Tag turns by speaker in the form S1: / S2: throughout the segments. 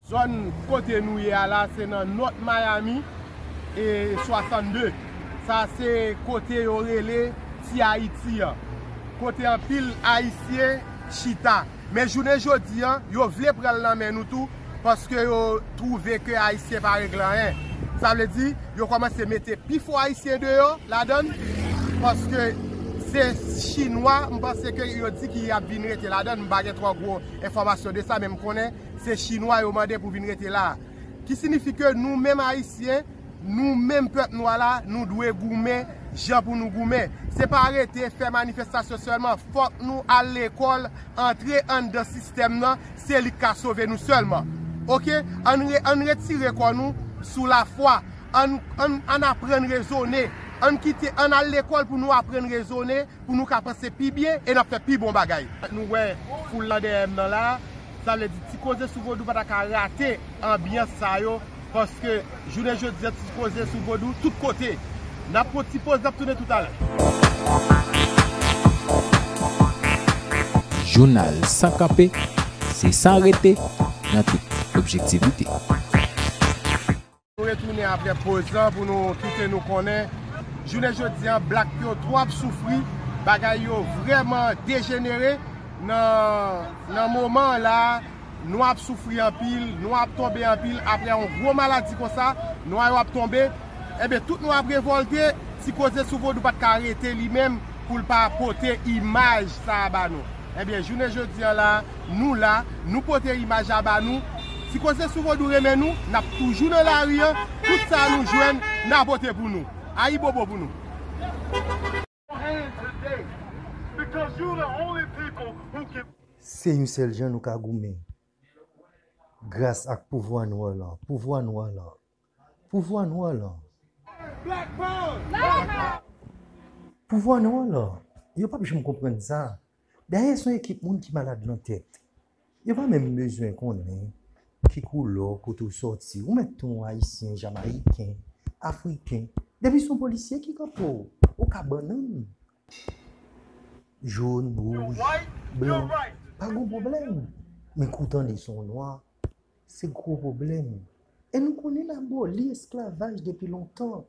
S1: Zòn kote nou ye a la se nan North Miami e 62. Sa se kote yo rele Ti Ayiti an. Kote anpil Ayisyen chita. Men jounen jodi an, yo vle pran l nan men nou tou paske yo twouve ke Ayisyen pa regle anyen. Sa vle di, yo kòmanse mete pi fò Ayisyen deyò ladan l paske se Chinwa m panse ke yo di ki ap vin rete ladan l. M pa gen twò gwo enfòmasyon de sa men m konnen Se chinwa yo mande pou vin rete la. Ki sinifi ke nou menm ayisyen, nou menm pèp nwa la, nou dwe goumen jan pou nou goumen. Se pa rete fè manifestasyon sèlman. Fòk nou al lekòl, antre anndan sistèm nan, se li k ka sove nou sèlman. Ok? Ann retire kò nou sou lafwa. Ann aprann rezone. Ann kite, ann al lekòl pou nou aprann rezone, pou nou ka panse pi byen e n ap fè pi bon bagay. Nou wè foul lan dèyè m nan la. Sa vle di ti koze sou vodou pa ta ka rate anbyans sa yo paske jounen jodi a ti koze sou vodou tout kote. N ap pran ti poz n ap tounen toutalè.
S2: Jounal san kanpe, se san rete nan tout objektivite.
S1: Nou retounen apre poz lan pou nou kite nou konnen jounen jodi an blak yo twò ap soufri bagay yo vrèman dejenere nan moman an la nwa ap soufri anpil nwa ap tonbe anpil apre yon gwo maladi konsa nwa yo ap tonbe enben tout nwa ap revolte ti koze sou vodou pat ka rete li menm pou l pa pote imaj sa a ba nou. Ebyen jounen jodi an la, nou la, nou pote imaj la ba nou, ti koze sou vodou renmen nou, nap toujou nan lari an, tout sa nou jwenn na pote pou nou. Ayibobo pou nou.
S3: Se yon sèl jan nou ka goumen gras ak pouvwa nwa lan, pouvwa nwa lan. Pouvwa nou alò. Black power! Black power! Pouvwa nou alò. Yo pap janm konprann sa. Dayè son ekip moun ki malad lan tèt. Yo pa menm bezwen konnen ki koulò, kote w sòti. Ou mèt ton ayisyen, jamayiken, afriken. Depi son polisye ki kanpe w, ou ka bannann. Jòn, wouj, blan, pa gon pwoblèm. Men kou w tande son nwa, Se gwo pwoblèm. E nou konn yn aboli esklavaj depi lontan.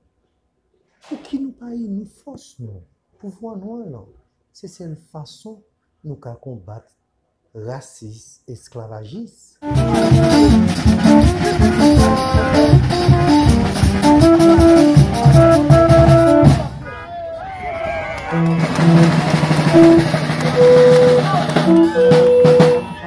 S3: Pouki nou pa ini fòs nou? Pouvwa nwa lan. Se sèl fason nou ka konbat rasis esklavajis.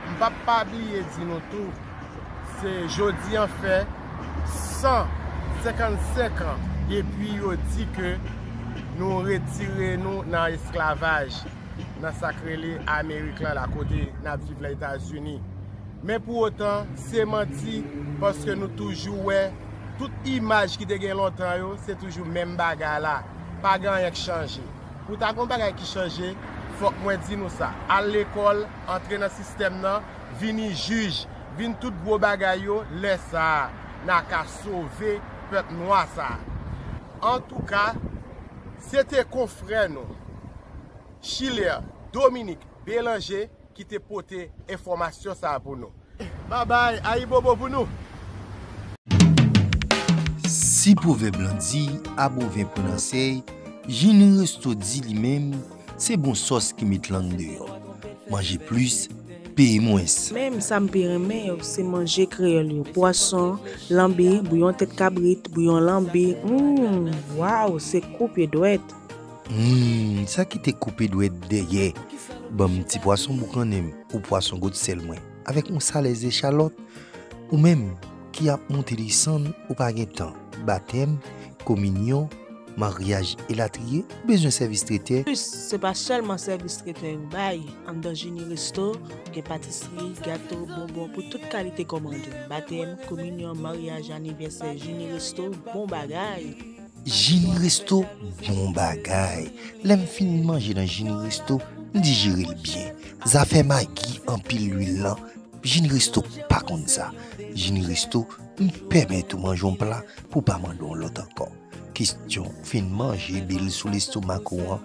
S1: M pap pa bliye di nou tou se jodi an fè 155 an depi yo di ke nou retire nou nan esklavaj nan sa k rele amerik la la kote n ap viv la etazini men pou otan se manti paske nou toujou wè tout imaj ki te gen lontan yo se toujou menm bagay la pa gen anyen k chanje pou ta gen yon bagay ki chanje fòk mwen di nou sa al lekòl antre nan sistèm nan, vini jij, vin tout gwo bagay yo, lè sa a, n a ka sove pèp nwa sa a. Antouka, se te konfrè nou, Schiller Dominique Bélanger ki te pote enfòmasyon sa a pou nou. Babay ayibobo pou nou.
S3: Si pwovèb lan di a bovin pran nan sèy, Jini Resto di li menm se bon sòs ki met lang deyò. Manje plis, peye mwens. Menm sa m pi
S4: renmen yo se manje kreyòl yo, pwason, lanbi, bouyon tèt kabrit, bouyon lanbi, humm waww se koupe dwèt. Humm
S3: sa ki te koupe dwèt dèyè banm ti pwason boukannen m. Ou pwason gout sèl mwen. Avèk yon salè ze chalòt. Ou menm ki ap monte desann ou pa gen tan. Batèm, kominyon, maryaj elatriye, ou bezwen sèvis tretè? Anplis, se pa sèlman
S4: sèvis tretè yo bay. Anndan Jeni Resto, gen patisri, gato, bonbon pou tout kalite kòmande. Batèm, kominyon, maryaj, anivèsè, Jeni Resto, bon bagay!
S3: Jini resto bon bagay. Lè m fin manje nan jini resto m dijere l byen. Zafè magi anpil lwil lan jini resto pa konn sa. Jini resto m pèmèt ou manje yon pla pou w pa mande yon lòt ankò. Kestyon ou fin manje bil sou lestomak ou an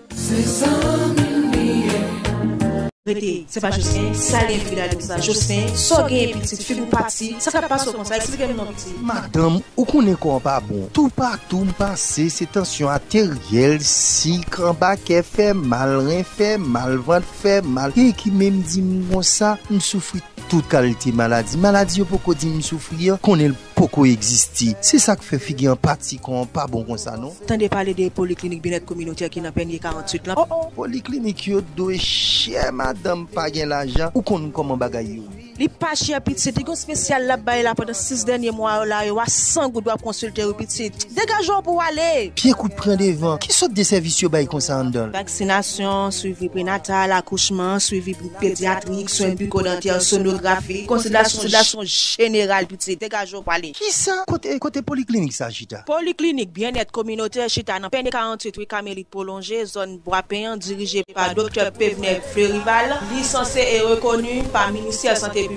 S3: Se zanmi m
S4: li ye. Rete, se pa Jocelyn, sa gen fi la di m sa, Jocelyn, sa w genyen pitit, figi w pati, sa kap pase w konsa, eksplike m non pitit. Madanm, ou konnen
S3: kò an pa bon, toupatou m pase se tansyon ateryèl, sik, anba kè fè mal, ren fè mal, vant fè mal, gen ki menm di m konsa, m soufri tout kalite maladi, maladi yo poko di m soufri an, konnen l. Poko egziste. Se sa k fè figi anpati kò an pa bon konsa non. Tande pale de poliklinik
S4: byenèt kominotè ki nan Pènye 48 lan. Oh oh! Poliklinik yo
S3: dwe chè madanm pa gen lajan, ou konn kòman bagay yo ye. Li pa chè pitit,
S4: li gen yon spesyal lap bay la pandan 6 dènye mwa yo la yo a 100 goud wap konsilte wi pitit. Degaje w pou w ale! Pye kout pran devan.
S3: Ki sòt de sèvis yo bay konsa anndan l? Vaksinasyon, swivi
S4: prenatal, akouchman, swivi. pedyatrik, swen biko-dantè, sonografi, konsiderasyon jeneral tout se. Degaje w pale. Kisa? Kote
S3: poliklinik sa chita? Poliklinik Byennèt
S4: Kominotè chita nan Pè Ne 48 Ri Kamelit Pwolonje, zòn Bwapen an, dirije pa Doktè Pevner Fleurival, lisanse e rekoni pa Ministè Sante Piblik.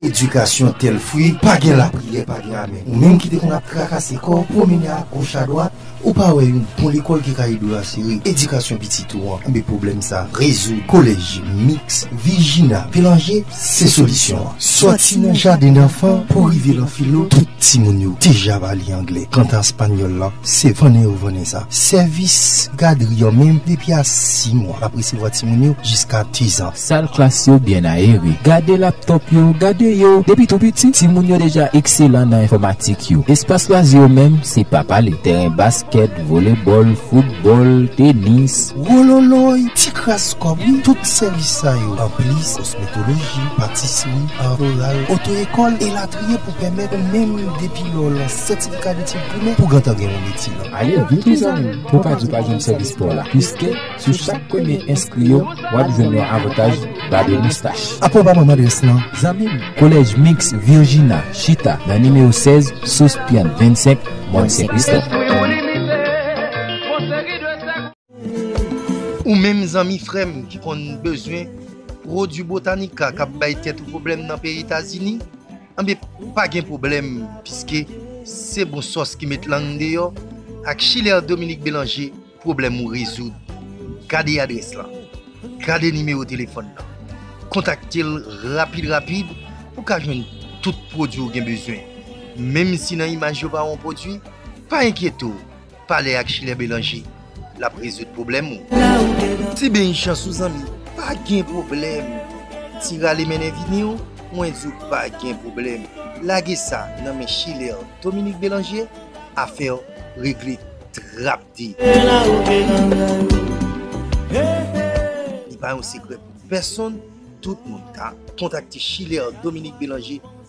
S3: Edikasyon tel fwi, pa gen lapriyè, pa gen amè. Ou menm ki te konn ap trakase kò w, pwomennen agoch adwat, ou pa wè yon bon lekòl ki ka ede w asire edikasyon pitit ou an? Enben pwoblèm sa a rezoud. Kolèj Miks Vijina Belanje se solisyon an. Sòti nan jadendanfan pou rive lan filo, tout timoun yo deja va li angle. Kanta espanyòl lan, se vannen yo vannen sa. Sèvis gadri an menm depi a 6 mwa. N ap resevwa timoun yo jiska dizan. Sal klas yo byen
S2: ayere. Gade laptòp yo, gade yo depi tou piti. Timoun yo deja ekselan nan enfòmatik yo. Espas lwazi yo menm, se pa pale. Tèren baskèt, volebòl, foutbòl, tenis. Wololoy!
S3: Ti kras kòb wi! Tout sèvis sa yo, anplis kosmetoloji, patisri, ar floral, oto ekòl, elatriye pou pèmèt ou menm depi lè w lan sètifikadetid primè pou gentan gen yon metye nan. Ale vin tou zanmi
S2: m! pou w pa di w pa jwenn sèvis pa w la, piske sou chak premye enskri yo, w ap jwenn yon avantaj babe moustach. Apre w ba m adrès lan,
S3: zanmi m. Collège
S2: Mixte Virginia chita nan nimewo 16 Sous Piann 25, Mòn Sen Kristòf.
S3: Ou menm zanmi frè m ki konn bezwen pwodui Botanica k ap bay tèt ou pwoblèm nan peyi Etazini, Anben pa gen pwoblèm piske se bon sòs ki met lang deyò, ak chilè Dominique Bélanger pwoblèm ou rezoud. Gade adrès lan, gade nimewo telefòn lan, kontakte l rapid rapid pou ka jwenn tout pwodwi ou gen bezwen. Menm si nan imaj yo pa wè yon pwodwi, pa enkyete w! Pale ak Schiller Belanger lap rezoud pwoblèm ou. Ti beny chans ou zanmi pa gen pwoblèm ti rale mennen vini w mwen di w pa gen pwoblèm lage sa nan men Schiller Dominique Belanger afè w regle trap de. Li pa yon sekrè pou pèsonn tout moun ka kontakte Schiller Dominique Belanger